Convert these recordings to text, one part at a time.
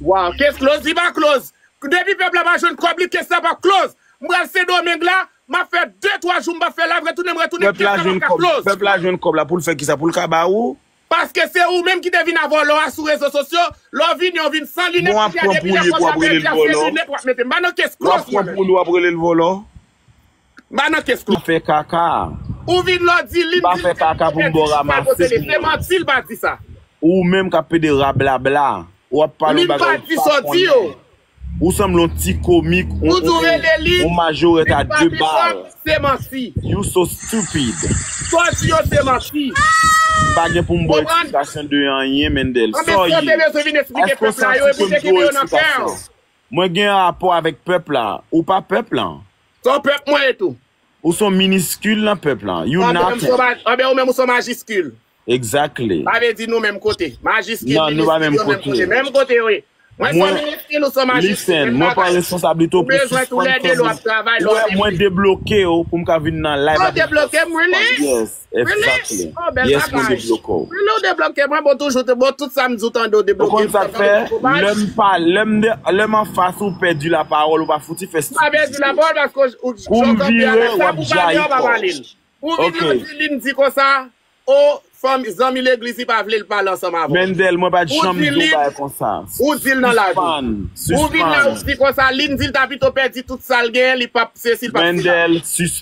Waw kes close li pa close depi pèp la pa jwenn kòb li kes la pap close m pral sendomeng la map fè de twa jou m pap fè live retounen m retounen Pèp la kes la pap jwenn ka kòb close. pèp la jwenn kòb la poul fè kisa poul ka ba ou. Paske se ou menm ki te vin a vòlò a sou rezo sosyo, lè w vini w vin san Bon lunet wap kounye a pran depi lè pouli epi pòch wap la relel pèdi a se vòlò lunet wap mete m ba non kes wap close pran mwen menm. pouli wap relel vòlò. Ba nan kes Li kòb. fè kaka. Ou vin lò di Li pa fè kaka pou m ba w ramase pou mwen. Ou menm k ap pede rablabla. Ou ap pale yon bagay ou pa konnen. Ou sanble yon ti komik, yon majorèt a 2 bal. You so stupid. M pa gen pou m ba w eksplikasyon de anyen Mendel. Sa w ye? Èske w santi ke m dwe w eksplikasyon? Mwen gen rapò avèk pèp la. Ou pa pèp lan. Son pèp mwen e tou. Ou son miniskil nan pèp la. You nothing. Anben ou menm ou son majiskil. Exactly. Sa vle di nou menm kote. Majiskil, miniskil yo menm kote. Menm kote yo ye. Mwen son miniskil ou son majiskil. Listen, mwen pa responsabilite w pou sispann kòmante. Ou wè mwen debloke w pou m ka vin nan live avèk w. Ou debloke m really? Yes. Exactly. Yes mwen debloke w. Rele w debloke mwen bon toujou te bon tout sa m di w tande w debloke m. Ou konn sa k fè lè m pa lè m de lè m anfas ou pèdi la pawòl ou pa fouti fè stupidite. M pa pèdi la pawòl paske ou jan w kanpe a la sa pou w pale a ou pa pale l. Pou w vin la di li m di konsa o fanm zanmi legliz li pa vle l pale ansanm avè w. Mendel mwen pa t janm di w bagay konsa. Ou di l nan lavi. Sispann. Sispann. Ou vin la ou di konsa li m di l ta pito pèdi tout sa l genyen li pap sesi l pap sela. Mendel sis.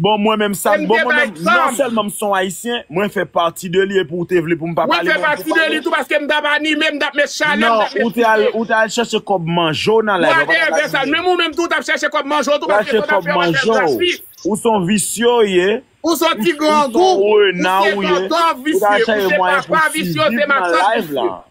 Bon mwen menm sak bon mwen menm non selman m son ayisyen mwen fè pati de li epi ou te vle pou m pa pale mwen pou pale non ou te al ou te al chèche kòb manje w nan live la ou paka di mwen ou te chèche kòb manje w ou son visye w ye ou son rena w ye ou ta chèche mwayen pou siviv nan live la.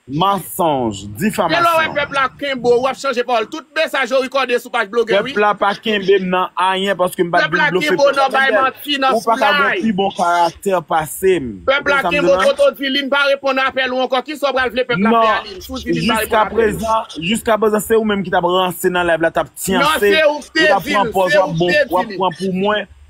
Mansonj, difamasyon. Pèp la kenbe w, wap chanje pawòl. Tout mesaj yo rekòde sou paj blogè wi. Pèp la pa kenbe m nan anyen paske m pa t vin blofe pèp la nan bèl. Ou pa ka gon pi bon karaktè pase m. Pèp la kenbe w twòt ou di li n pa reponn apèl ou ankò. Kisa w pral vle pèp la fè a li n si w di li n pa reponn apèl ou? Non, jiska prezan se ou menm ki t ap ranse nan live la t ap tyanse. Ou t ap pran pòz wap bon, wap pran pou mwen.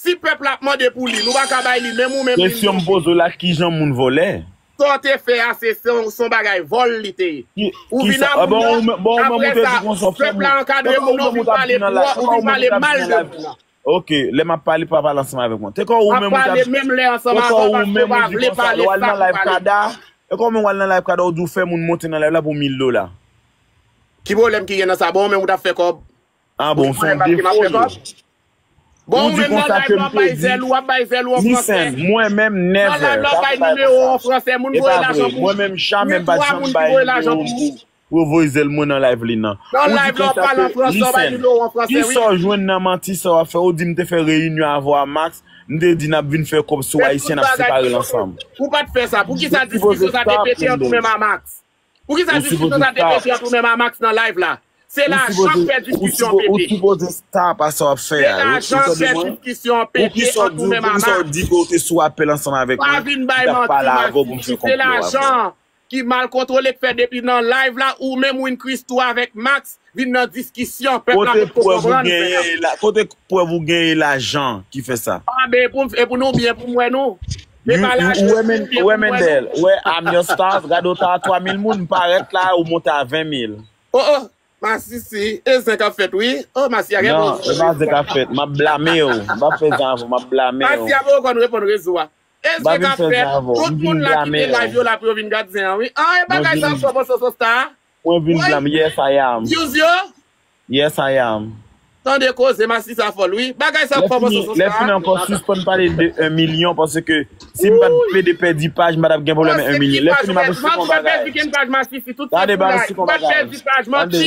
Si pèp la ap mande pou li, nou pa ka bay li, menm ou menm li n Kesyon m touche. poze w la kijan moun vòlè? Sa w te fè a se son bagay vòl li te ye. Ki Ou vin kisa a bon moun nan, ou menm bon ou menm ou apre te sa di konsa fè pèp moun la Te ankadre kò moun ou nan ou menm ou vin t ap di pale nan pou la te ou kò vin ou menm ou pale t ap di mal nan de la moun nan. Ok lè m ap pale pa pale ansanm avèk mwen. Te kò ou Map menm ou t ap pale menm lè ansanm Te kò avè w ou paske ou menm ou pa di vle konsa lè pale w al sa nan pou live pale. Kada Te kò ou menm w al nan live kada ou di w fè moun monte nan live la pou 1000 dola. Ki pwoblèm ki gen nan sa? Bon ou menm ou t ap fè kòb Ah bon, son defo yo. Ou di konsa ke m te di. Listen, mwen menm never. E pa vre, mwen menm jamè m pa janm bay nimewo m pou yo voye zèl mwen nan live li nan. Ou di konsa ke, listen, kisa w jwenn nan manti sa w ap fè? Ou di m te fè reyinyon avè w a Max, m te di n ap vin fè kòb sou Ayisyen n ap separe l ansanm. Ou sipoze stop, Gendon. Poukisa diskisyon sa te pèdi ant ou menm a Max nan live la? Se lajan k fè diskisyon pete. Se lajan k fè diskisyon pete ant ou menm a Max. Pa vin bay manti masisi. Se lajan ki mal kontwole k fè depi nan live la ou menm Win Christoo avèk Max vin nan diskisyon pèp la potko konprann ou fè a. Kote prèv ou gen e lajan ki fè sa? An ben e pou nou byen pou m wè nou. Se pa la ou wè men ou wè Mendel ou wè I'm your stars gade ou ta a 3000 moun m parèt la ou monte a 20000. Oh oh masisi e zen kap fèt wi oh masiya gen bon Non e pa zen kap fèt map blamew m pap fè zen avèw map blamew. Masiya poko konn reponn rezo a. E zen kap fèt tout moun la kite live yo la pou yo vin gad zen an wi ah e bagay sa fò bon soso star. Mwen vin Woy blanm yes I am views yo. Yes I am. Tande koze masisi a fòl wi. Bagay sa ap kòmanse sou Lè fini ankò sispann pale de 1 milyon paske si m pat plede pèdi paj m pa tap gen pwoblèm 1 milyon. Lè fini m ap di se kon bagay. Tande bann se kon bagay. Tande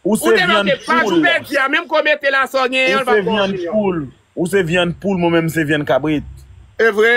Ou se vyann poul. Ou se vyann poul. Ou se vyann poul mwen menm m se vyann kabrit. Evre?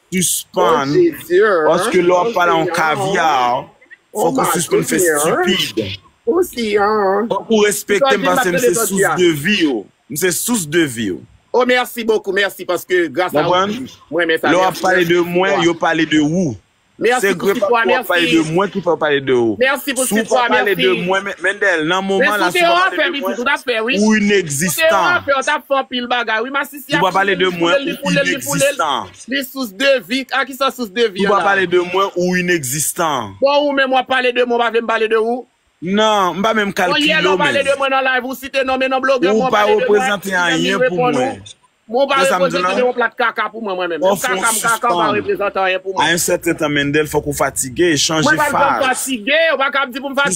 Sispann paske lè wap pale a yon caviar fòk ou sispann fè stupid fòk ou respektem paske m se sous de vi w m se sous de vi w konprann lè wap pale de mwen yo pale de ou se gre paske wap pale de mwen ki fè yo pale de ou si w pa pale de mwen Mendel nan moman la si w pa pale de mwen ou inexistan. Si yap pale de mwen ou inexistan. Li sous de vi, a kisa sous de vi an la. Si wap pale de mwen ou inexistan. Bon ou menm wap pale de mwen ou pa vle m pale de ou. Nan, m pa menm kalkile w menm. Bon yè lè w pale de mwen nan live ou site non men nan blogè mwen ou pale de mwen si menm li reponn ou. Mwen ou pa reprezante de yon plat kaka pou mwen mwen menm. Menm kaka m kaka ou pa reprezante anyen pou mwen. A yon sèten tan Mendel fòk ou fatige, chanje faz. Mwen pa janm fatige, ou pa ka ap di pou m fatige.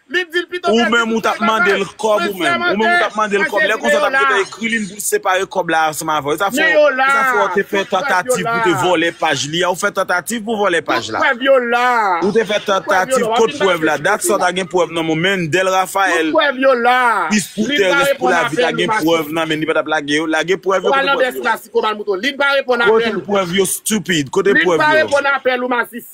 Li dil pito Ou pèdi menm ou tout tap travay mandel kòb ou Mwen menm Ou menm ou tap sèmante mandel kòb Lè Jezi konsa men ou tap la gentan ekri li pou separe kòb la ansanm avèw e sa fè Men yo la e sa fè ou te fè Tout prèv yo tantativ la pou te vòlè paj li a ou fè tantativ pou vòlè paj Tout la prèv yo la Ou te fè Tout prèv yo la tantativ Wap kot vin bay prèv la Jezi dat sa ou kotew ta gen prèv nan menw menn Dèl Tout Raphaël prèv yo la Pis pou Lin pa Thérèse pou reponn lavi ta apèl ou gen machwè prèv nan menn li pa tap lage yo Lage prèv yo Ou al kote nan prèv bès yo la sikoman mouton Lin pa reponn apèl Kote ou prèv yo stupid kote Lin prèv pa yo. reponn apèl ou masis.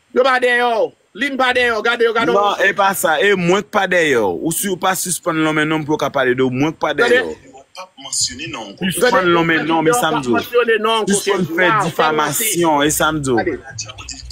Yo pa dèyè w. Lynn pa dèyè w. Gade yo, gade yon Non, e pa sa. E mwen k pa dèyè w. Ou si ou pa sispann lonmen non m pou yo ka pale de w. Mwen k pa dèyè w. Yo pap mansyone non w kou Kenzo. Sispann lonmen non m, e sa m di w. Sispann fè difamasyon, e sa m di w.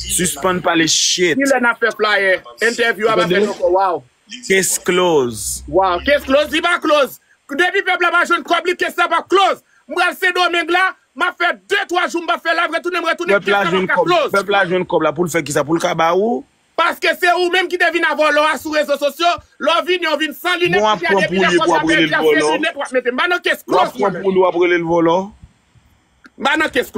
Sispann pale shit. Kilè nap fè flayè? Entèvyou a pa fèt ankò. Waww. Case close. Waww. Case close? Li pa close. Depi pèp la pa jwenn kòb li, case la pap close. M pral Sendomeng la, Map fè de twa jou m pap fè live retounen m retounen Pèp kèk la tan map jwenn ka kòb close. Pèp la jwenn kòb la poul fè kisa poul ka ba ou. Paske se ou menm ki te vin avè w lò a sou rezo sosyo, lò w vini w vin san Bon lunet wap kounye a pran depi lè pouli pou kòb la wap rele l pèdi a se vòlò. lunet wap mete m ba nan kes Wap close mwen pran menm. pouli wap rele l vòlò. M ba nan kes close.